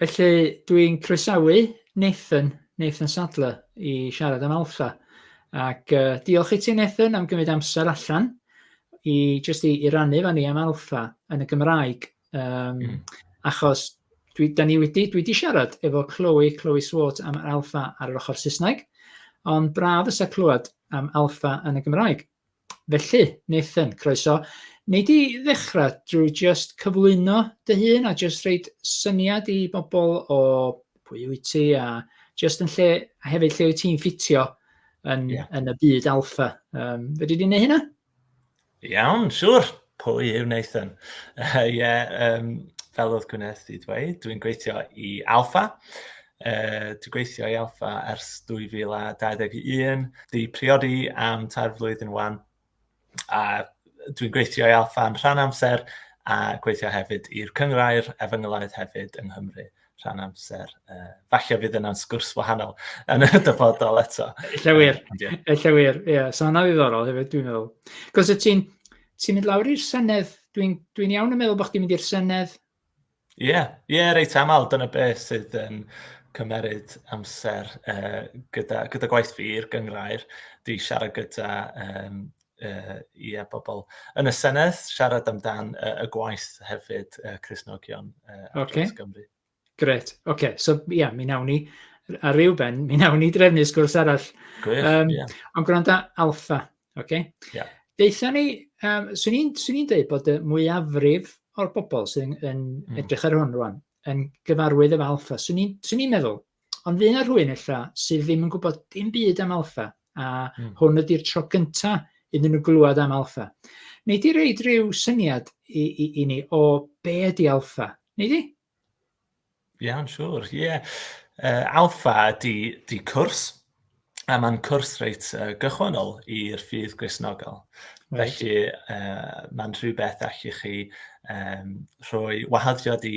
Felly, dwi'n croesawu Nathan, Nathan Sadler, i siarad am Alpha. Ac uh, diolch i ti, Nathan, am gymryd amser allan i just i, i rannu fan ni am Alpha yn y Gymraeg. Um, mm. Achos dwi, da ni wedi, dwi wedi siarad efo Chloe, Chloe Swart am Alpha ar yr ochr Saesneg, ond braf fysa clywed am Alpha yn y Gymraeg. Felly, Nathan, croeso. Nei di ddechrau drwy just cyflwyno dy hun a just reid syniad i bobl o pwy wyt ti a just yn lle, a hefyd lle wyt ti'n ffitio yn, yeah. yn y byd alfa. Um, fe di di wneud hynna? Iawn, siwr. Pwy yw Nathan? Ie, yeah, um, fel oedd Gwyneth wedi dweud, dwi'n gweithio i Alpha. Uh, dwi'n gweithio i Alpha ers 2021. Di priodi am tair flwyddyn wan. A dwi'n gweithio i Alpha yn rhan amser a gweithio hefyd i'r cyngrair efengylaeth hefyd yng Nghymru. rhan amser. Uh, falle fydd yna'n sgwrs wahanol yn y dyfodol eto. Ella wir, ella wir, ie. Yeah. So hwnna ddiddorol hefyd, dwi'n meddwl. Cos y ti'n ti mynd lawr i'r Senedd, dwi'n dwi iawn yn meddwl bod chdi'n mynd i'r Senedd. Ie, yeah. ie, yeah, reit aml, dyna beth sydd yn cymeryd amser uh, gyda, gyda gwaith fi i'r gyngrair. Dwi siarad gyda um, uh, yeah, bobl yn y Senedd, siarad amdan uh, y gwaith hefyd, uh, Cresnogion uh, ar okay. Dros Gymru. Gret, oce, okay. so ie, yeah, mi nawn ni ar ryw ben, mi nawn ni drefnu sgwrs arall. Gwych, um, yeah. Ond gwrando alfa, oce? Okay? Yeah. Deitha ni, um, swn i'n ni dweud bod y mwyafrif o'r bobl sy'n yn mm. edrych ar hwn rwan, yn gyfarwydd efo alfa. Swn i'n meddwl, Ond fydd yna rhywun ella sydd ddim yn gwybod dim byd am alfa, a mm. hwn ydy'r tro gynta iddyn nhw glywed am alfa. Neu di reid rhyw syniad i, i, i ni o be ydy alfa, neu di? Iawn, siwr, ie. Yeah. Uh, alfa ydy, ydy cwrs, A mae'n cwrs reit uh, gychwynnol i'r ffydd Gristnogol. Right. Felly uh, mae'n rhywbeth allwch chi um, rhoi wahaddiad i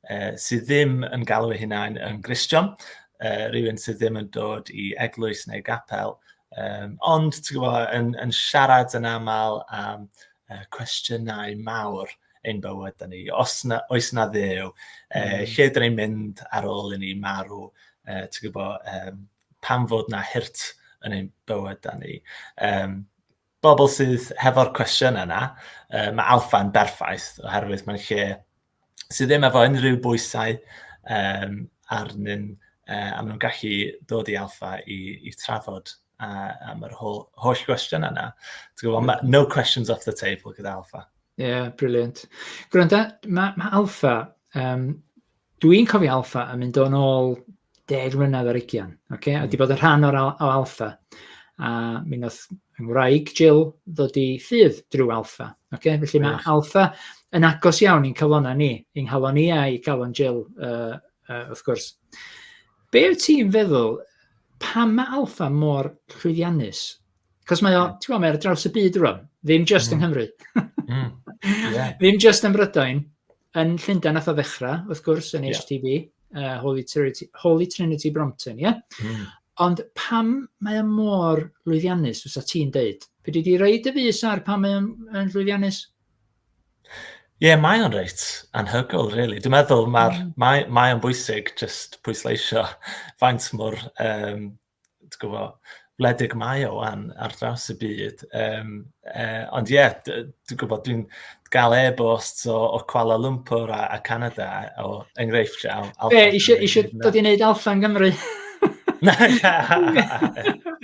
uh, sydd ddim yn galw ei hunain yn Gristion, uh, rhywun sydd ddim yn dod i eglwys neu gapel, um, ond gwybod, yn, yn siarad yn aml am uh, cwestiynau mawr ein bywyd ni. Os na, oes na ddew, e, mm. lle dyn ni'n mynd ar ôl i ni marw, e, ti'n gwybod, um, pam fod na hirt yn ein bywyd da ni. Um, bobl sydd hefo'r cwestiwn yna, uh, mae alfa'n berffaith, oherwydd mae'n lle sydd ddim efo unrhyw bwysau um, arnyn, uh, a maen nhw'n gallu dod i alfa i, i trafod uh, am yr holl, holl gwestiwn yna. Gwybod, no questions off the table gyda alfa. Ie, brilliant. Gwranda, mae ma Alpha, um, dwi'n cofio Alpha yn mynd o'n ôl deg mlynedd ar ugian, okay? Mm. a di hmm. bod yn rhan o'r al o Alpha. A mi wnaeth yng Ngwraig Jill ddod i ffydd drwy Alpha. Okay? Felly mae yeah. Alpha yn agos iawn i'n cyflona ni, i'n halon ni a i galon Jill, uh, uh, wrth gwrs. Be wyt ti'n feddwl, pam mae Alpha mor llwyddiannus? Cos mae o, ti'n gwybod, mae ar draws y byd rwan, ddim just mm. yng Nghymru. mm. yeah. Ddim just yn Brydain, yn Llundain nath o ddechrau, wrth gwrs, yn HTB, yeah. uh, Holy, Trinity, Holy Trinity Brompton, ie? Yeah? Mm. Ond pam mae o mor lwyddiannus, fysa ti'n deud? Fe dwi wedi reid y fus ar pam mae o'n lwyddiannus? Ie, yeah, mae o'n reit anhygol, really. Dwi'n meddwl mae, mm. mae, mae o'n bwysig just pwysleisio faint mor um, ti'n gwybod, wledig mae o wan ar draws y byd. Um, uh, ond ie, yeah, dwi'n gwybod, dwi'n gael e-bost o, o Kuala Lumpur a, a Canada o enghreifftiau. Be, eisiau, eisiau dod i wneud alfa yn Gymru?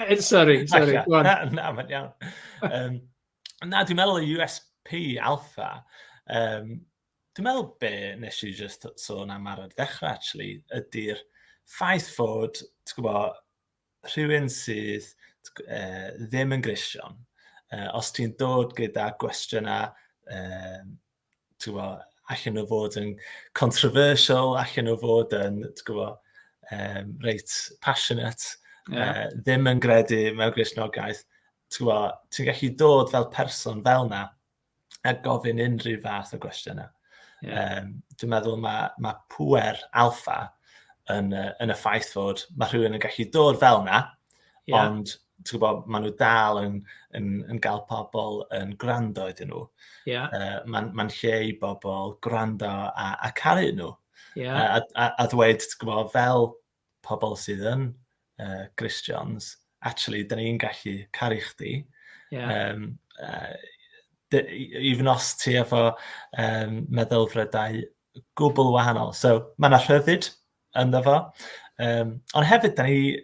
Eh, sorry, sorry. Na, na, mae'n iawn. Um, na, dwi'n meddwl y USP alfa, um, Dwi'n meddwl be nes i just sôn am ar y dechrau actually, ydy'r ffaith fod, ti'n gwybod, rhywun sydd uh, ddim yn grision, uh, os ti'n dod gyda gwestiynau, uh, ti'n gwybod, allan o fod yn controversial, allan o fod yn, ti'n gwybod, um, reit passionate, yeah. uh, ddim yn gredu mewn grisnogaeth, ti'n gwybod, ti'n gallu dod fel person fel na, a gofyn unrhyw fath o gwestiynau. Yeah. Um, dwi'n meddwl mae, ma pwer alfa yn, uh, yn y ffaith fod mae rhywun yn gallu dod fel yna, yeah. ond ti'n gwybod, maen nhw dal yn, yn, yn gael pobl yn gwrando iddyn nhw. Yeah. Uh, Mae'n ma lle i bobl gwrando a, a caru nhw. Yeah. A, a, a ddweud, ti'n gwybod, fel pobl sydd yn uh, Christians, actually, da ni'n gallu caru chdi. Yeah. Um, uh, even os ti efo um, meddylfrydau gwbl wahanol. So, mae yna rhyddid ynddo fo. Um, ond hefyd, da ni,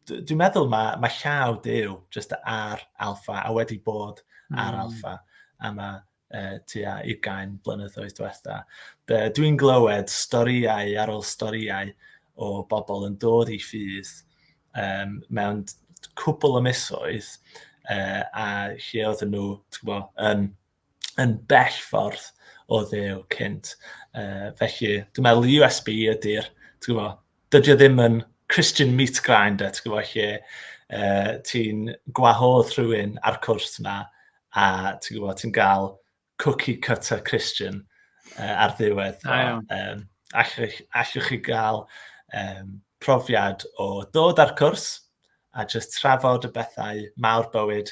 dwi'n meddwl mae, mae llaw Dyw just ar alfa a wedi bod mm. ar hmm. alfa. A mae uh, tua 20 blynyddoedd diwetha. Dwi'n glywed storïau ar ôl storïau o bobl yn dod i ffydd um, mewn cwbl o misoedd uh, a lle oedden nhw, ti'n gwybod, yn, yn bell ffordd o ddew cynt. Uh, felly, dwi'n meddwl USB ydy'r, ti'n gwybod, dydy o ddim yn Christian meat grinder, ti'n gwybod, lle uh, ti'n gwahodd rhywun ar cwrs yna, a ti'n gwybod, ti'n gael cookie cutter Christian uh, ar ddiwedd. A, um, allwch, allwch chi gael um, profiad o ddod ar cwrs a just trafod y bethau mawr bywyd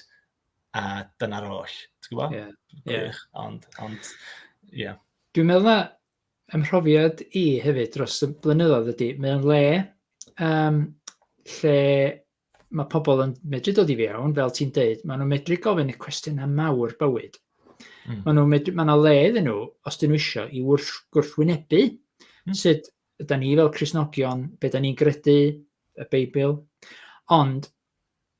a dyna'r oll. Ti'n gwybod? Ie. Yeah. Yeah. Ond, ond, ie. Yeah. Dwi'n meddwl na, Fy mhrofiad i hefyd dros y blynyddoedd ydy, mae o'n le um, lle mae pobl yn medru dod i fewn, fel ti'n deud, maen nhw'n medru gofyn y cwestiynau mawr bywyd. Mm. Maen nhw'n medru, maen nhw le iddyn nhw, os dyn nhw eisiau, i wrth gwrthwynebu mm. sut ydy ni fel Cresnogion, be da ni'n gredu, y Beibl. Ond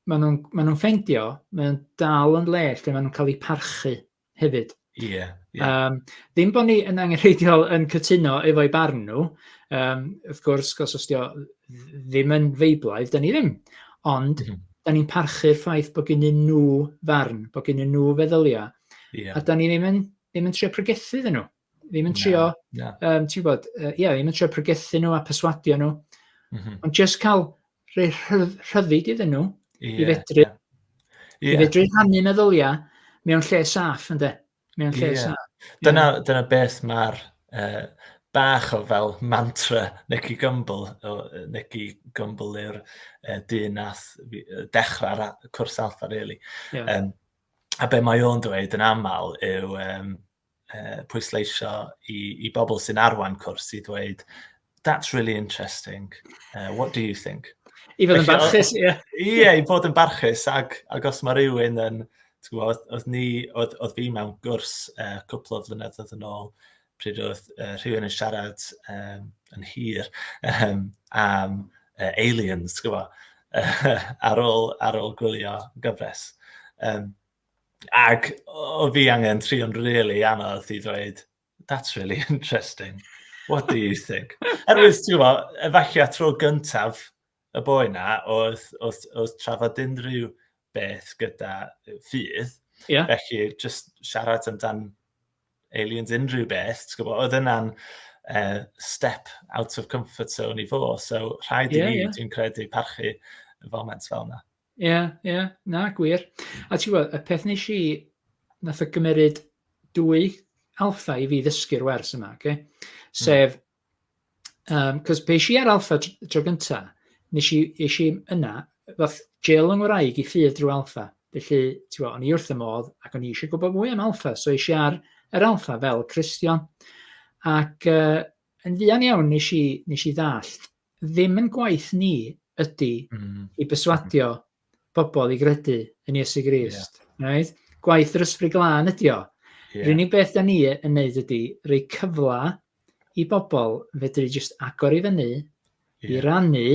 maen nhw'n maen nhw ffendio, maen nhw'n dal yn le lle maen nhw'n cael eu parchu. hefyd. Ie, ie. Yym, ddim bod ni yn angenrheidiol yn cytuno efo'u barn nhw, um, wrth gwrs, os os dio ddim yn feiblaidd, da ni ddim. Ond, mm -hmm. da ni'n parchu'r ffaith bod gen nhw farn, bod gen nhw feddyliau, yeah. a da ni ddim yn, ddim yn trio pregethu ddyn nhw. Ddim yn trio, no, no. Um, ti'n bod, uh, yeah, ddim yn trio pregethu nhw a perswadio nhw. Mm -hmm. Ond just cael rhoi rhyddid iddyn nhw yeah, i fedru, yeah. Yeah. i fedru rhannu meddyliau mewn lle saff, ynddo? Mewn lle yeah. saff. Dyna, yeah. dyna beth mae'r uh, bach o fel mantra Nicky Gumbel, Nicky Gumbel yw'r uh, dyn nath dechrau'r cwrs alfa, really. Yeah. Um, a be mae o'n dweud yn aml yw, um, uh, pwysleisio i, i bobl sy'n arwain cwrs i ddweud, that's really interesting, uh, what do you think? I fod yn barchus, ie. Ie, i fod yn barchus, ac, ac os mae rhywun yn, gwybod, oedd, ni, oedd, oedd fi mewn gwrs uh, cwpl o flynyddoedd yn ôl, pryd oedd uh, rhywun yn siarad um, yn hir um, am uh, aliens, gwybod, uh, ar, ôl, ar ôl gwylio gyfres. Um, Ac o fi angen trio'n really anodd i ddweud, that's really interesting. What do you think? Erwydd, ti'n gwybod, efallai tro gyntaf y boi na, oedd, oedd, oedd trafod unrhyw beth gyda ffydd. Yeah. Felly, just siarad amdan aliens unrhyw beth, ti'n gwybod, oedd yna'n uh, step out of comfort zone i fo, so rhaid yeah, i ni, yeah. dwi'n credu, parchu y foment fel yna. Ie, ie, na, gwir. A ti'n gwybod, y peth nes i, nath o gymryd dwy alfa i fi ddysgu'r wers yma, okay? Hmm. sef, um, cos pe si ar alfa tro gynta, nes i, nes i yna, fath gel yng Ngwraeg i ffydd drwy alfa. Felly, ti'n gwybod, o'n i wrth y modd ac o'n i eisiau gwybod mwy am alfa, so eisiau ar yr alfa fel Christian. Ac uh, yn ddian iawn nes i, nes i ddallt ddim yn gwaith ni ydy i berswadio pobl i gredu yn Iesu Grist. Yeah. Right? Gwaith yr ysbryd glân ydy o. Yeah. Rhywun beth da ni yn neud ydy rhoi cyfle i bobl fedru jyst agor i fyny, yeah. i rannu,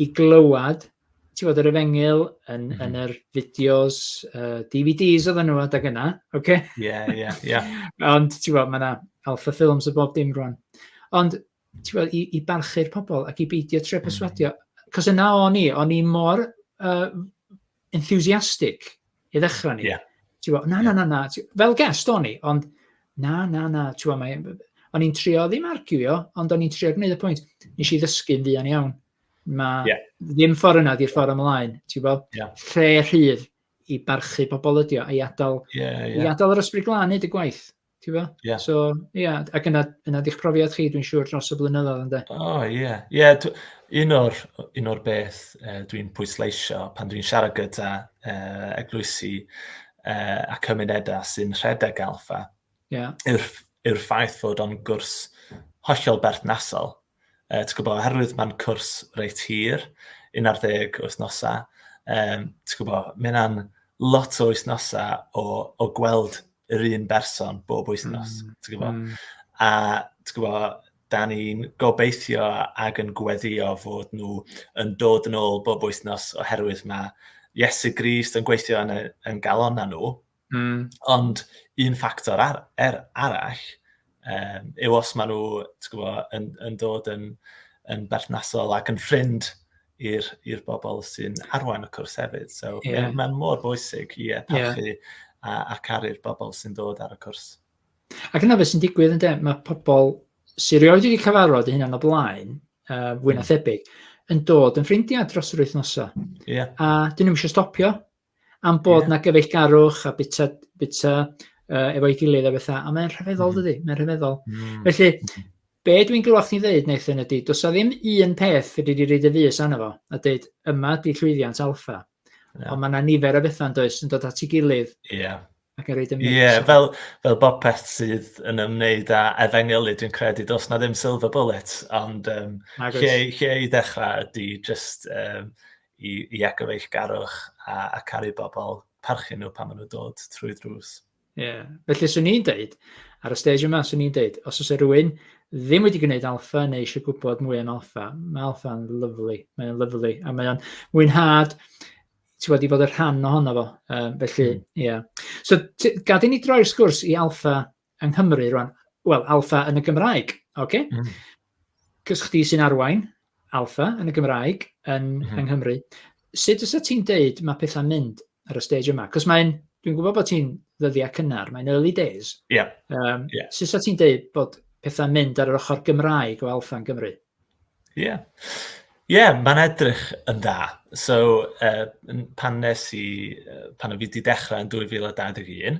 i glywed, ti fod yr efengil yn, mm. yn yr fideos, uh, DVDs oedd nhw adag yna, oce? Okay? Ie, ie, ie. Ond ti fod, mae yna Alpha Films y bob dim rwan. Ond ti'n gwybod, i, i barchu'r pobl ac i beidio tre mm. perswadio. Cos yna o'n i, o'n i mor uh, enthusiastic i ddechrau ni. Yeah. Ti'n gwybod, na, na, na, na. Fel gest o'n i, ond na, na, na. Ti'n gwybod, mae, o'n i'n trio ddim arguio, ond o'n i'n trio gwneud y pwynt. Nes i ddysgu'n fuan iawn. Mae yeah. ddim ffordd yna di'r ffordd ymlaen. Ti'n gwybod, yeah. rhe rhydd i barchu pobl ydio, i adael, yeah, yeah. i adael yr ysbryd glân hyd y gwaith. Tibod? Yeah. So, ie, yeah. ac yna, yna di'ch profiad chi, dwi'n siŵr, dros y blynyddoedd, ynddo? O, oh, ie. Yeah. Ie, yeah, un o'r, un o'r beth uh, dwi'n pwysleisio pan dwi'n siarad gyda uh, eglwysi uh, a cymunedau sy'n rhedeg alfa, yeah. yw'r yw ffaith fod o'n gwrs hollol berthnasol Yy ti'n gwybod, oherwydd mae'n cwrs reit hir, 11 wythnosau, um, ti'n gwybod, mae yna'n lot o wythnosau o, o gweld yr un berson bob wythnos, mm. ti'n gwybod. Mm. A ti'n gwybod, da ni'n gobeithio ag yn gweddio fod nhw yn dod yn ôl bob wythnos oherwydd mae Iesu Grist yn gweithio yn, yn galon na nhw, Mm. Ond un ffactor ar, er arall um, yw os maen nhw gwbo, yn, yn dod yn, yn berthnasol ac yn ffrind i'r bobl sy'n arwain y cwrs hefyd. So, yeah. Mae'n mor bwysig i yeah, parchu yeah. a, a caru'r bobl sy'n dod ar y cwrs. Ac yna beth sy'n digwydd yn dem, mae pobl sy'n rhoi wedi cyfarfod y hyn o blaen, uh, fwy na hmm. thebyg, yn dod yn ffrindiau dros yr wythnosau. Yeah. A dyn nhw'n eisiau stopio. am bod yeah. na gyfeillgarwch a bita, bita uh, efo'i gilydd a bethau, a mae'n rhyfeddol mm. dydy, mae'n rhyfeddol. Mm. Felly, be dwi'n glywed chdi ddeud, Nathan, ydy, does na ddim un peth fe wedi reid y fus anna fo, a dweud, yma di llwyddiant alfa. Yeah. Ond mae yna nifer o bethau yn does, yn dod at ei gilydd. Yeah. ac ar ei dymwys. Ie, yeah, fel, fel bob peth sydd yn ymwneud â efengylu, dwi'n credu, dos na ddim silver bullet, ond um, lle, lle i ddechrau ydy just um, i, i agor eich garwch a, a caru bobl, parchu nhw pan maen nhw'n dod trwy drws. Ie, yeah. felly swn i'n deud, ar y stage yma, swn i'n deud, os oes rhywun ddim wedi gwneud alfa neu eisiau gwybod mwy am alfa, mae alfa yn lyflu, mae'n lyflu, a mae'n mwynhad ti wedi bod yn rhan ohono fo, um, felly, hmm. ie. Yeah. So, gad i ni droi'r sgwrs i alfa yng Nghymru rwan. Wel, alfa yn y Gymraeg, oce? Okay? Mm. Cys chdi sy'n arwain alfa yn y Gymraeg yn, mm -hmm. yng Nghymru. Sut ys ti'n deud mae pethau'n mynd ar y stage yma? Cys mae'n, dwi'n gwybod bod ti'n ddyddiau cynnar, mae'n early days. Ie. Yeah. Um, yeah. Sut ys ti'n deud bod pethau'n mynd ar yr ochr Gymraeg o alfa yn Gymru? Ie. Ie, mae'n edrych yn dda. So, yy, n- pan wnes i yy pan o' fi 'di dechre yn 2021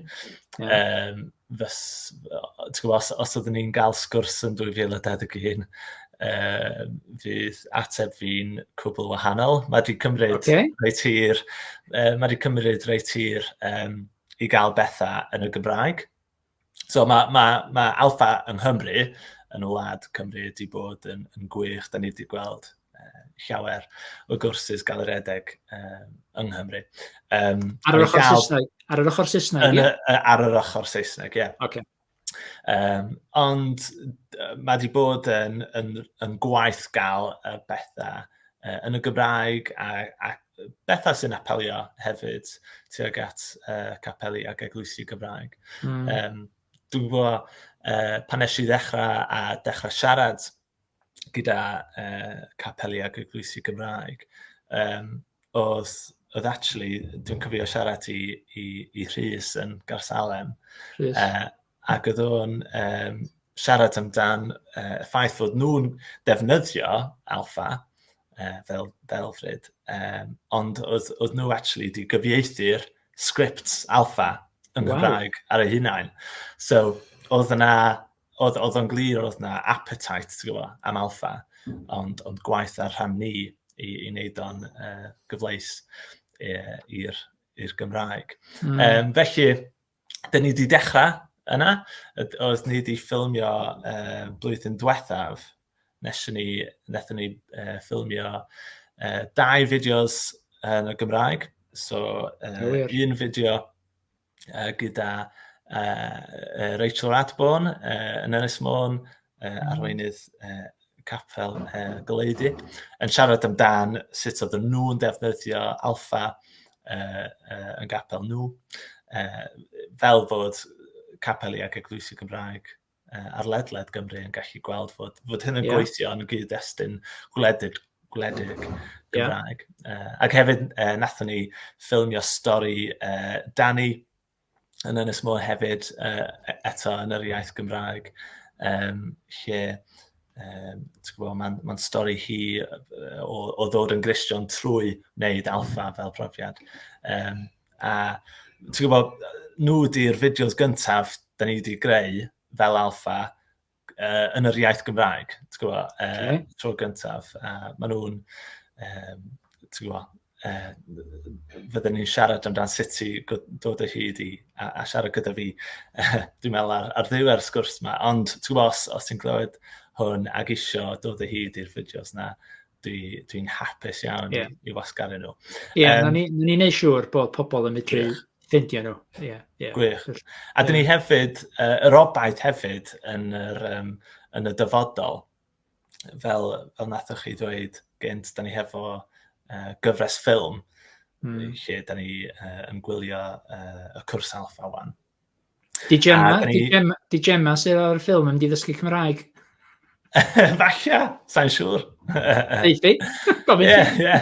yym fys- o- ti'n gwbod os os oedden ni'n ga'l sgwrs yn 2021 yy fydd ateb fi'n cwbwl wahanol. Ma' 'di cymryd... Ocê. ...reit hir yy ma' 'di cymryd reit hir yym i ga'l betha yn y Gymraeg. So mae, mae, mae Alfa yng Nghymru, yn y wlad Cymru, wedi bod yn, yn gwych. Da ni wedi gweld uh, llawer o gwrsys gael yr edeg uh, yng Nghymru. Um, ar yr ochr Saesneg? Ar yr ochr Saesneg, ie? Ar yr ochr Saesneg, ie. Okay. Um, ond mae wedi bod yn, yn, yn gwaith gael y bethau uh, yn y Gymraeg ac, ac bethau sy'n apelio hefyd tuag at uh, capeli ac eglwysi Gymraeg. Mm. Um, dwi'n gwybod, uh, pan nes i ddechrau a dechrau siarad gyda uh, capeli ac eglwysi Gymraeg, um, oedd, oedd actually, dwi'n cyfio siarad i, i, i Rhys yn Garsalem. Rhys. Uh, ac oedd o'n um, siarad amdan uh, y ffaith fod nhw'n defnyddio alfa uh, fel delfryd, um, ond oedd, oedd nhw actually wedi gyfieithu'r script alfa yn wow. Gymraeg ar ei hunain. So, oedd yna, oedd, oedd o'n glir oedd yna appetite, ti'n gwybod, am alfa, ond, ond gwaith ar rhan ni i, i wneud o'n uh, gyfleis i'r Gymraeg. Mm. Um, felly, dyn ni wedi dechrau yna. Oedd ni wedi ffilmio uh, blwyddyn diwethaf, nes ni, nes ni uh, ffilmio uh, dau fideos yn y Gymraeg. So, uh, un fideo uh, gyda uh, Rachel Radborn uh, yn Ynys Môn, uh, arweinydd uh, capel uh, goleuddi, yn siarad amdan sut oedd nhw'n defnyddio alfa uh, uh, yn gapel nhw, uh, fel fod capeli ac eglwysi Gymraeg uh, ar ledled Gymru yn gallu gweld fod, fod hyn yn yeah. gweithio yn gyd-destun gwledydd gwledig Gymraeg. Yeah. Uh, ac hefyd, uh, nathon ni ffilmio stori uh, Danny, yn Ynys Môn hefyd, uh, eto yn yr iaith Gymraeg, um, lle um, mae'n ma stori hi o, o ddod yn Gristion trwy wneud alfa fel profiad. Um, a ti'n gwybod, nhw di'r fideos gyntaf da ni wedi greu fel alfa, uh, yn yr iaith Gymraeg, ti'n gwybod, uh, okay. tro gyntaf. A maen nhw'n, um, ti'n gwybod, uh, fydden ni'n siarad amdano sut i dod o hyd i a, a siarad gyda fi, uh, dwi'n meddwl, ar, ar ddiwedd sgwrs yma. Ond, ti'n gwybod, os, os ti'n glywed hwn ag isio dod o hyd i'r fideos na, dwi'n dwi hapus iawn yeah. i, i wasgaru nhw. Ie, yeah, um, na ni'n ni, ni neud siŵr bod pobl yn medru yeah. Ffindio nhw, ie. Yeah, yeah. Gwych. A dyn ni hefyd, uh, yr obaith hefyd yn, yr, um, yn y dyfodol, fel, fel nathoch chi ddweud gynt, dyn ni hefo uh, gyfres ffilm, mm. lle dyn ni uh, yn gwylio uh, y cwrs alfa wan. Di Gemma, ni... di Gemma, di Gemma sydd ar y ffilm yn ddysgu Cymraeg. Falle, sa'n siŵr. Eithi, gofyn ti. Ie, ie.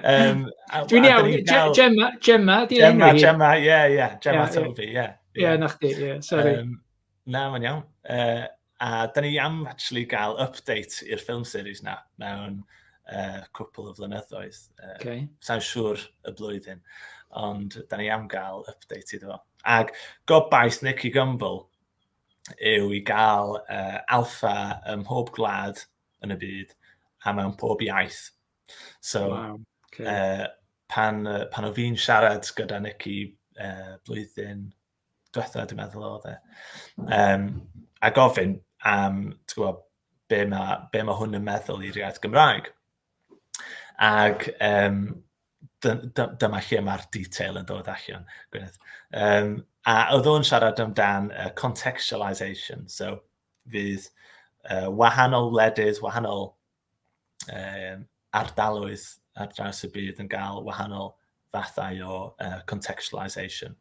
Um, Dwi'n iawn, Gemma, Gemma, di enw hi? Gemma, ie, ie, Gemma yeah, Toby, ie. Yeah. Ie, yeah, na chdi, ie, sorry. Um, na, mae'n iawn. Uh, a da ni am actually gael update i'r film series na mewn uh, cwpl o flynyddoedd. Uh, okay. Sa'n siŵr y blwyddyn, ond da ni am gael update iddo fo. Ac gobaith Nicky Gumbel yw i gael uh, alfa ym mhob gwlad yn y byd a mewn pob iaith So, wow. okay. uh, pan, uh, pan o fi'n siarad gyda Nicky uh, blwyddyn diwetha, dwi'n meddwl o dde, um, a gofyn am, ti'n gwybod, be mae, be mae hwn yn meddwl i'r iaith Gymraeg. Ac um, dyma lle mae'r detail yn dod allan, Gwyneth. Um, a oedd o'n siarad amdan uh, contextualisation, so fydd uh, wahanol wledydd, wahanol um, ardaloedd ar draws y byd yn gael wahanol fathau o uh, contextualisation.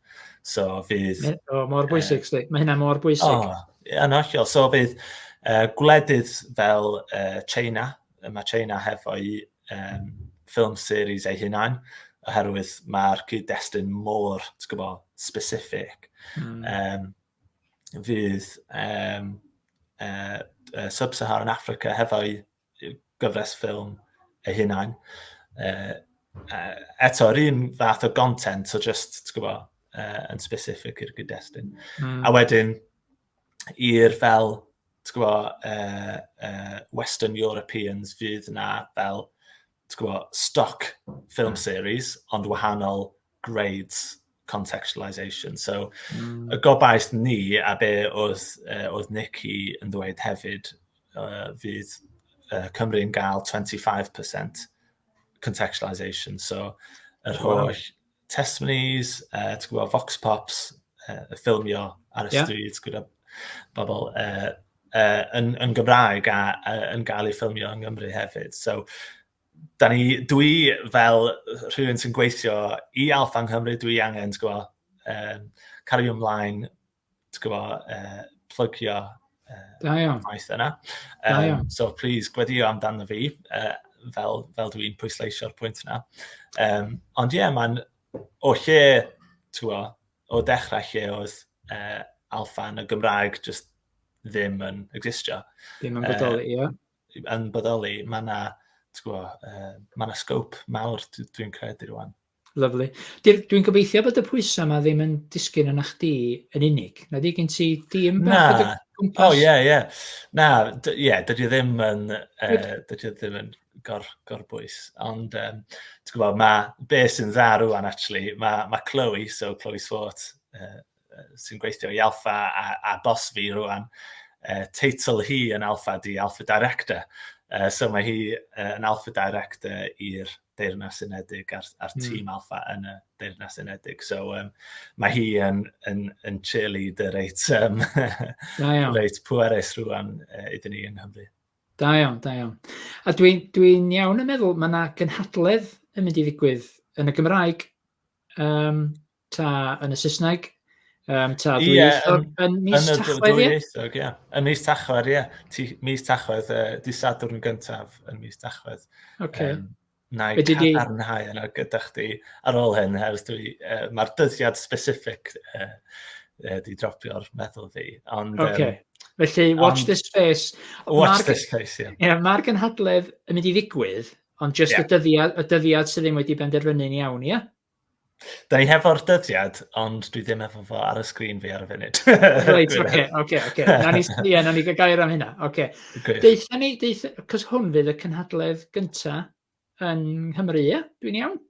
So fydd... Me, oh, mor bwysig, uh, mae hynna mor bwysig. O, oh, yn hollol. So fydd uh, gwledydd fel uh, China, mae China hefo'i um, film series ei hunain, oherwydd mae'r cyd-destun mor, ti'n gwybod, specific. Mm. Um, fydd um, uh, uh, Sub-Saharan Africa hefo'i gyfres ffilm ei hunain. Uh, uh, eto, yr un fath o content, so just, ti'n gwybod, uh, yn specific i'r gyd-destun. Mm. A wedyn, i'r fel, ti'n gwybod, uh, uh, Western Europeans fydd yna fel, ti'n gwybod, stock film hmm. series, ond wahanol grades contextualisation. So, mm. y gobaith ni, a be oedd, uh, oedd Nicky yn ddweud hefyd, uh, fydd uh, Cymru'n gael 25% contextualisation. So, yr holl wow. testimonies, uh, ti'n gwybod, vox pops, uh, y ffilmio ar y yeah. stryd gyda bobl uh, uh, yn, yn Gymraeg a uh, yn gael ei ffilmio yng Nghymru hefyd. So, da ni, dwi fel rhywun sy'n gweithio i Alfa yng Nghymru, dwi angen, ti'n gwybod, um, cario ymlaen, ti'n gwybod, uh, plygio uh, da iawn. maes yna. Um, so, please, gweddio amdano fi, uh, fel, fel dwi'n pwysleisio'r pwynt yna. Um, ond ie, yeah, mae'n o lle, ti'n gwybod, o dechrau lle oedd uh, alfa yn y Gymraeg just ddim yn existio. Ddim yn bodoli, ie. Uh, yn bodoli, mae yna uh, ma na sgwp mawr dwi'n credu rwan. Lyflu. Dwi'n gobeithio bod y pwysau yma ddim yn disgyn yna chdi yn unig. Na di gen ti dîm bach o gwmpas? O, ie, ie. Na, ie, yeah, dydy e ddim yn, uh, dydy e ddim yn gor, gor bwys. Ond, um, ti'n gwybod, mae be sy'n dda rwan, actually, mae ma Chloe, so Chloe Swart, uh, sy'n gweithio i Alpha a, a bos fi rwan, uh, teitl hi yn Alpha di Alpha Director. Uh, so mae hi uh, yn Alpha Director i'r Deyrnas Unedig a'r, ar hmm. tîm mm. Alpha yn y Deyrnas Unedig. So um, mae hi yn, yn, yn cheerleader reit, um, reit pwerus rwan uh, iddyn ni yng Nghymru. Da iawn, da iawn. A dwi'n dwi, iawn yn meddwl, mae yna gynhadledd yn mynd i ddigwydd yn y Gymraeg um, Ta yn y Saesneg? Um, ta dwy yeah, eithog yn, yn mis Tachwedd, ie? Eithog, ie. Yn mis Tachwedd, ie. Yeah. Mis Tachwedd, uh, di Sadwrn gyntaf yn mis Tachwedd. Okay. Um, na i cadarnhau yna gyda chdi ar ôl hyn, hers dwi, uh, mae'r dyddiad specific uh, uh, di dropio'r meddwl fi. Ond, okay. um, Felly, watch um, this space. Watch Marg, this space, ie. Yeah. Yeah, Mae'r gynhadledd yn mynd i ddigwydd, ond just yeah. y, dyddiad, y dyddiad sydd ddim wedi benderfynu'n iawn, ie? Yeah? Da ni hefo'r dyddiad, ond dwi ddim efo fo ar y sgrin fi ar y funud. Reit, oce, oce, oce. Na ni, ie, na ni gair am hynna, oce. Deitha ni, deitha, cos hwn fydd y cynhadledd gynta yn Nghymru, ie? Dwi'n iawn?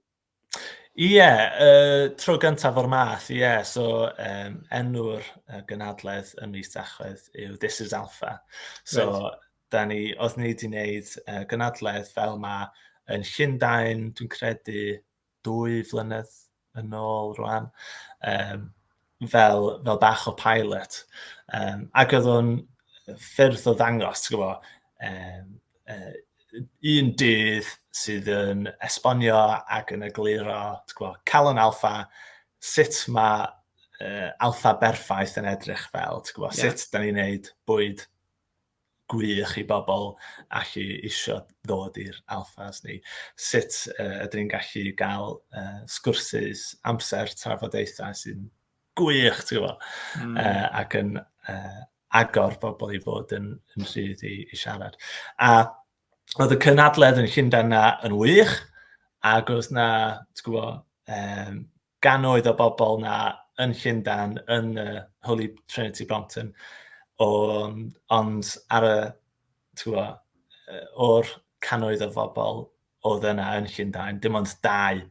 Ie, yeah, uh, tro gyntaf o'r math, ie. Yeah. So, um, enw'r uh, gynhadledd ym mis Tachwedd yw This is Alpha. So, right. da ni, oedd ni wedi gwneud uh, gynhadledd fel mae yn Llundain, dwi'n credu, dwy flynedd yn ôl rwan, um, fel, fel bach o pilot. Um, ac oedd o'n ffyrdd o ddangos, ti'n gwybod, um, uh, un dydd sydd yn esbonio ac yn egluro, ti'n gwybod, calon alfa, sut mae uh, alfa berffaith yn edrych fel, ti'n gwybod, yeah. sut da ni'n neud bwyd gwych i bobl allu isio ddod i'r alphas ni. Sut uh, ydyn ni'n gallu gael uh, sgwrsys, amser, trafodaethau sy'n gwych, ti'n gwybod, mm. uh, ac yn uh, agor bobl i fod yn, yn rhydd i, i siarad. A oedd y cynadledd yn Llundain na yn wych, ac oedd na, ti'n gwybod, um, gannoedd o bobl 'na yn Llundain, yn y Holy Trinity Brompton, o, ond ar y, twa, o'r cannoedd o bobl oedd yna yn Llundain, dim ond dau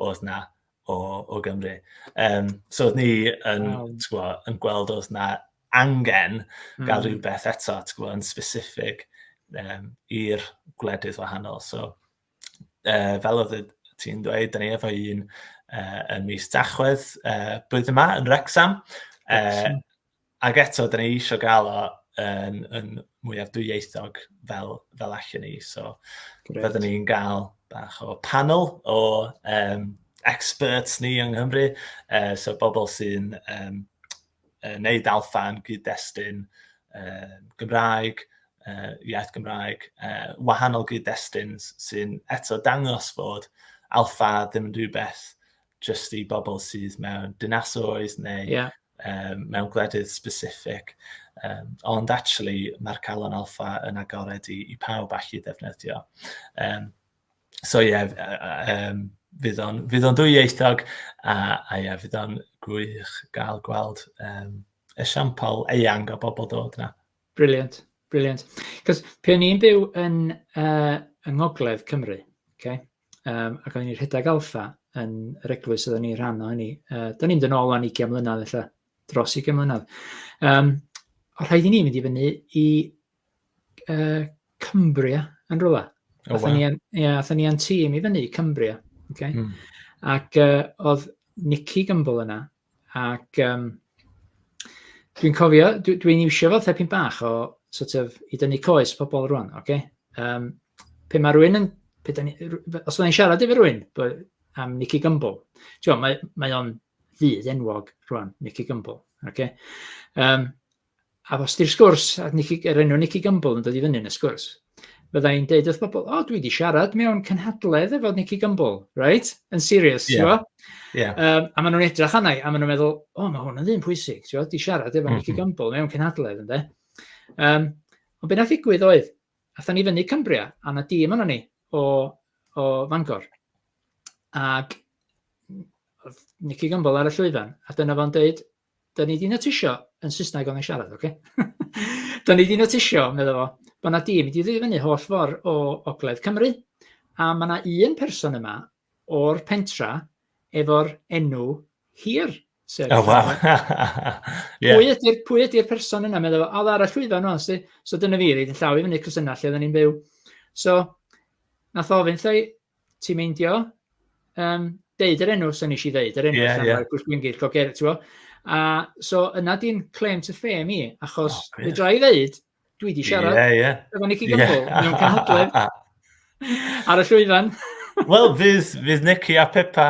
oedd yna o, o Gymru. Um, so oedd ni yn, wow. twa, yn gweld oedd yna angen mm. gael hmm. rhywbeth eto, twa, yn specific um, i'r gwledydd wahanol. So, uh, fel oedd ti'n dweud, da ni efo un uh, yn mis Dachwedd uh, blwyddyn yma yn Rexham. Uh, ac eto, da ni eisiau gael o yn, yn mwyaf dwyieithog fel, fel allan ni. So, byddwn ni'n gael bach o panel o um, experts ni yng Nghymru, uh, so bobl sy'n um, uh, wneud alfa yn gyd-destun uh, Gymraeg, uh, iaith Gymraeg, uh, wahanol gyd-destun sy'n eto dangos fod alfa ddim yn rhywbeth jyst i bobl sydd mewn dinasoedd neu yeah. um, mewn gwledydd specific. Um, ond actually, mae'r calon alfa yn agored i, i pawb allu ddefnyddio. Um, so ie, f- yy yy yym fydd o'n fydd o'n ddwyieithog a a ie fydd o'n gwych gael gweld yym esiampl eang o bobl dod 'na. Brilliant, brilliant. 'C'os pe' o'n i'n byw yn yy yng ngogledd Cymru ocê yym ac o'n i rhedeg Alpha yn yr eglwys oedden ni rhan o hynny yy 'dan ni'n mynd yn ôl wan ugian mlynadd ella, dros ugian mlynadd yym o' rhaid i ni mynd i fyny i uh, Cumbria yn rhywle. Oh, atho wow. ni, ia, atho ni a'n tîm i fyny, Cumbria. Okay? Mm. Ac uh, oedd Nicky Gumble yna. Ac um, dwi'n cofio, dwi'n dwi iwsio fo thepyn bach o sort of, i dynnu coes pobl rwan. Okay? Um, pe mae rhywun yn... Pe ni, os mae'n siarad efo rhywun am Nicky Gumble, mae, mae o'n ddydd enwog rwan, Nicky Gumble. Okay? Um, a os di'r sgwrs, a Nicky, er enw Nicky Gumbel yn dod i fyny yn y sgwrs, fydda i'n deud wrth bobl, o, dwi wedi siarad mewn cynhadledd efo Nicky Gumbel, right? Yn serious, yeah. ti'n bo? Yeah. Um, a maen nhw'n edrych anna i, a maen nhw'n meddwl, o, mae hwn yn ddyn pwysig, ti'n bo? Di siarad efo mm -hmm. Nicky mhm. Gumbel mewn cynhadledd, ynddo? Um, ond beth nath ddigwydd oedd, atho ni fyny Cumbria, a na dîm yna ni o, o Fangor. Ac Nicky Gumbel ar y llwyfan, a dyna fo'n deud, 'dan ni 'di notisio, yn Saesneg o'n i'n siarad, ocê? 'Dan ni 'di notisio, medda fo, bod 'na dîm 'di dod i fyny holl ffor' o ogledd Cymru, a ma' 'na un person yma o'r pentra efo'r enw hir, sef... O, waw! Ie. Pwy ydi'r pwy ydi'r person yna? Medda fo, o, ar y llwyfan rŵan, so dyna fi, roid 'yn llaw i fyny, 'c'os yna lle oedden ni'n byw. So, nath o ofyn 'tha i, ti'n meindio, um, deud yr enw, sy'n eisiau ddeud, yr enw, yeah, yeah. Gwrs Gwingir, Coger, ti'n A so yna di'n claim to fame i, achos oh, fe dra i ddeud, dwi di siarad, yeah, yeah. efo Nicky Gumbel, yeah. mewn canhadledd, ar y llwyfan. Wel, fydd, fydd Nicky a Pepa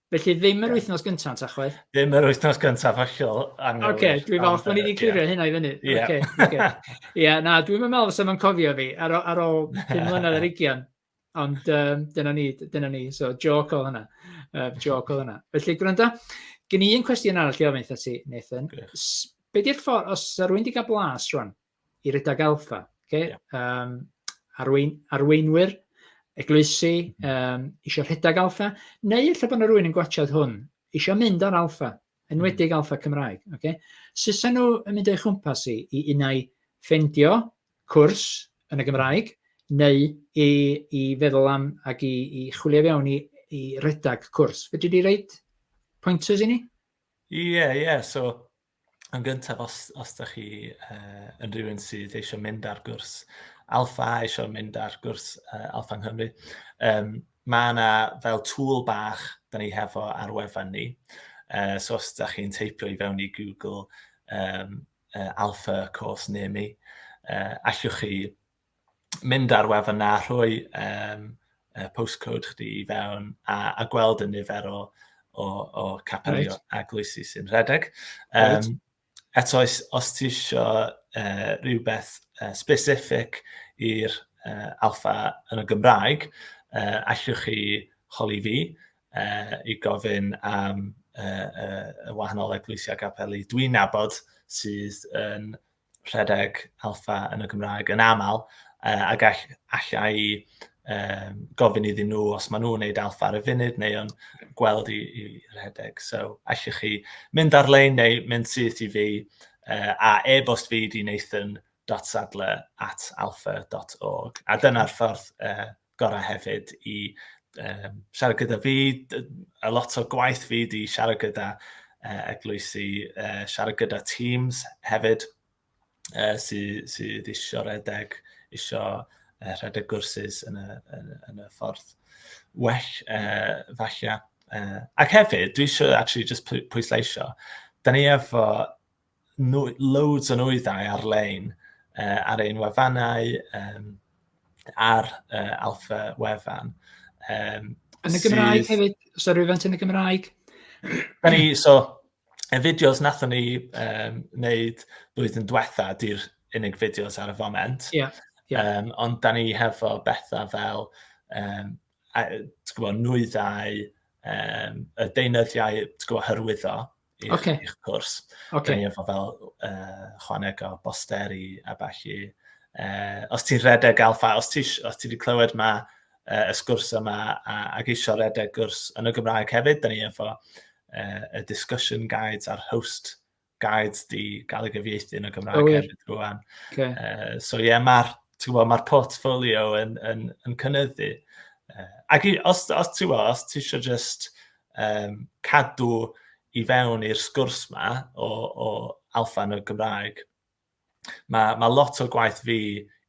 Felly ddim yr wythnos gyntaf, Tachwedd? Ddim yr wythnos gyntaf, hollol anghywir. Oce, okay, dwi'n falch bod ni wedi clirio hynna i fyny. Ie, yeah. okay, okay. yeah, na, dwi'n meddwl fes yma'n cofio fi ar, ar ôl 5 mlynedd ar ugian. Ond um, dyna ni, dyna ni. So, joc o hynna. Uh, joc o hynna. Felly, gwrando, gen i un cwestiwn arall i ofyn eitha ti, Nathan. Be di'r ffordd, os rwy'n wedi cael blas rwan, i redag alfa. Okay? Yeah. Um, arwein, arweinwyr, eglwysi, um, eisiau rhedeg alfa, neu efallai bod yna rhywun yn gwachod hwn, eisiau mynd ar alfa, enwedig mm. alfa Cymraeg. Okay? Susa nhw yn mynd o'i chwmpas i, i unau ffendio cwrs yn y Gymraeg, neu i, i feddwl am ac i, i chwilio fewn i, i redag cwrs. Fedri di reid pointers i ni? Ie, yeah, ie. Yeah. So, yn gyntaf, os, os da chi uh, yn rhywun sydd eisiau mynd ar gwrs alfa, eisiau mynd ar gwrs uh, alfa yng Nghymru, um, mae yna fel tŵl bach da ni hefo ar wefan ni. Uh, so os da chi'n teipio i fewn i Google um, uh, alfa course near me, uh, allwch chi mynd ar wefan na rhoi um, uh, postcode chdi i fewn a, a gweld y nifer o, o, o capel right. a gloesi sy'n rhedeg. Um, right. Eto, os, os ti eisiau uh, rhywbeth uh, specific i'r uh, alfa yn y Gymraeg, uh, allwch chi holi fi uh, i gofyn am uh, uh, y wahanol eglwysiau gapeli dwi'n nabod sydd yn rhedeg alfa yn y Gymraeg yn aml, uh, a gall, allai um, gofyn iddyn nhw os maen nhw'n gwneud alfa ar y funud neu yn gweld i, i rhedeg. So, allwch chi mynd ar-lein neu mynd syth i fi uh, a e-bost fi di Nathan nathan.sadler at alfa.org. A dyna'r ffordd uh, gorau hefyd i um, siarad gyda fi. A lot o gwaith fi di siarad gyda uh, eglwysi, uh, siarad gyda teams hefyd uh, sydd sy eisiau redeg, eisiau uh, rhedeg gwrsys yn y, yn, yn y ffordd well, uh, falle. Uh, ac hefyd, dwi eisiau actually just pwysleisio, da ni efo loads o nwyddau ar-lein uh, ar ein wefannau, um, ar uh, Alfa Wefan. Um, yn y Gymraeg sydd... hefyd? Os yr rwyfant yn y Gymraeg? Da ni, so, y fideos nathon ni um, wneud blwyddyn diwetha, di'r unig fideos ar y foment. Yeah, yeah. Um, ond da ni hefo bethau fel um, a, gwybod, nwyddau, um, y deunyddiau gwybod, hyrwyddo, i'ch, okay. ich cwrs. Okay. Dyn ni efo fel uh, chwaneg o bosteri a falle. Uh, os ti'n redeg alfa, os ti, os ti wedi clywed ma uh, y sgwrs yma a, ac eisiau redeg gwrs yn y Gymraeg hefyd, dyn ni efo uh, y discussion guides a'r host guides di gael ei gyfieithu yn y Gymraeg oh, hefyd rwan. Okay. Uh, so ie, yeah, mae'r ma portfolio yn, yn, yn cynyddu. Uh, ac i, os, os ti'n os ti eisiau just um, cadw i fewn i'r sgwrs ma o, o alfa yn y Gymraeg, mae, mae lot o gwaith fi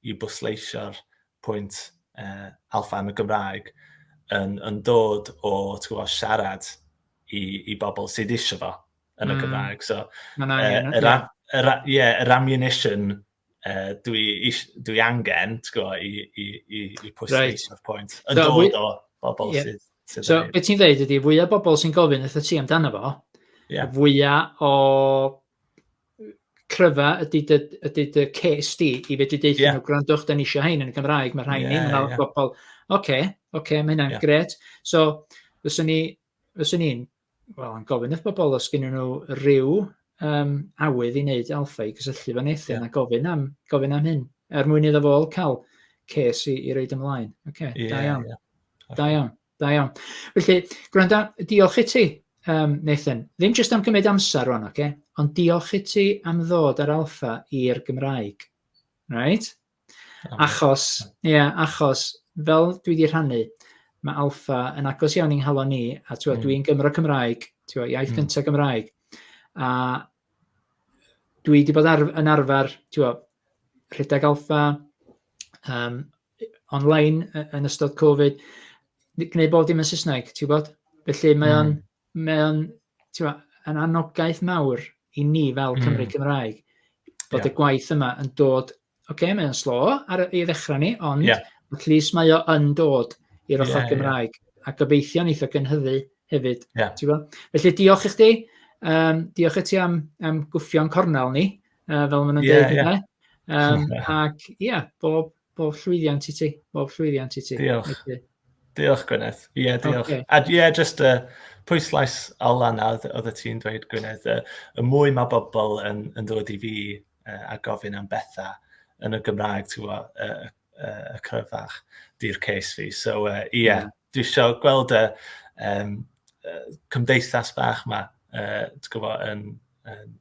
i bwysleisio'r pwynt uh, alfa yn y Gymraeg yn, yn dod o gwybod, siarad i, i bobl sydd eisiau fo yn y mm. Gymraeg. So, uh, yr, yr, yeah, yr ammunition uh, dwi, is, dwi angen, ti'n gwybod, i, i, i, i pwysleisio right. o'r pwynt. Yn so, dod o bobl yeah. sydd... sydd so, beth ti'n dweud ydy, fwyaf bobl sy'n gofyn eitha ti amdano fo, yeah. fwyaf o cryfa ydy dy, ydy dy ces di i fedru deithio yeah. nhw, gwrandwch, da ni eisiau hein yn y Gymraeg, mae rhain yeah, ni, yeah, yeah. bobl, oce, okay, oce, okay, mae hynna'n yeah. gret. So, fyswn ni, fyswn ni'n wel, yn gofyn wrth bobl os gynnyn nhw ryw um, awydd i wneud alfa i gysylltu fan Nathan yeah. a gofyn am, gofyn am hyn, er mwyn iddo fol cael ces i, i reid ymlaen. Oce, okay, yeah, da iawn. Yeah. Okay. Da iawn, da iawn. Felly, gwranda, diolch i ti, um, Nathan. Ddim jyst am gymryd amser rwan, oce? Okay? Ond diolch i ti am ddod ar alfa i'r Gymraeg. Right? Achos, ie, yeah, achos fel dwi wedi rhannu, mae alfa yn agos iawn i'n nghalon ni, a mm. dwi'n Gymro Cymraeg, twa, iaith mm. gyntaf Gymraeg, a dwi wedi bod ar, yn arfer, twa, rhedeg alfa, um, online yn ystod Covid, gwneud bob dim yn Saesneg, ti'n gwybod? Felly mae o'n... Mm. mae o'n, ti'n ma, yn anogaeth mawr i ni fel hmm. Cymru mm. Cymraeg, bod yeah. y gwaith yma yn dod, oce, okay, mae'n slo ar ei ddechrau ni, ond yeah. at least mae o yn dod i'r ochr yeah, Gymraeg, yeah. a gobeithio'n eitha gynhyddu hefyd. Yeah. Felly diolch i chdi, um, diolch i ti am, am gwffio'n cornel ni, uh, fel maen nhw'n yeah, dweud yeah. Um, ac ia, yeah, bob, Bob llwyddiant i ti. Bob llwyddiant i ti. Diolch. Okay. Diolch, Gwyneth. Ie, yeah, diolch. Okay. A ie, yeah, just uh, pwyslais Alan a oedd y ti'n dweud, Gwyneth, uh, y mwy mae bobl yn, yn dod i fi uh, a gofyn am bethau yn y Gymraeg, ti'n gwybod, uh, uh, y cryfach, di'r case fi. So, ie, uh, yeah, mm. dwi eisiau gweld y um, cymdeithas bach yma, uh, gwybod, yn, yn,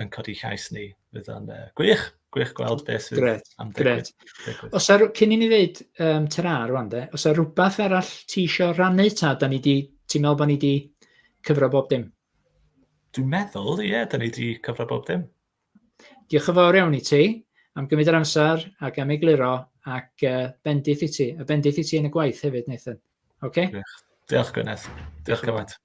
yn codi llais ni. Fydd o'n uh, gwych, gwych gweld beth sydd Gret, am digwydd. Gret. Os ar, cyn i ni ddeud um, tyra rwan de, os ar rhywbeth arall ti eisiau rannu ta, da ni di, ti'n meddwl bod ni wedi cyfro bob dim? Dwi'n meddwl, ie, yeah, da ni wedi cyfro bob dim. Diolch yn fawr iawn i ti am gymryd yr amser ac am egluro ac uh, bendith i ti, a bendith i ti yn y gwaith hefyd, Nathan. Okay? Diolch, Diolch Gwyneth. Diolch gymaint.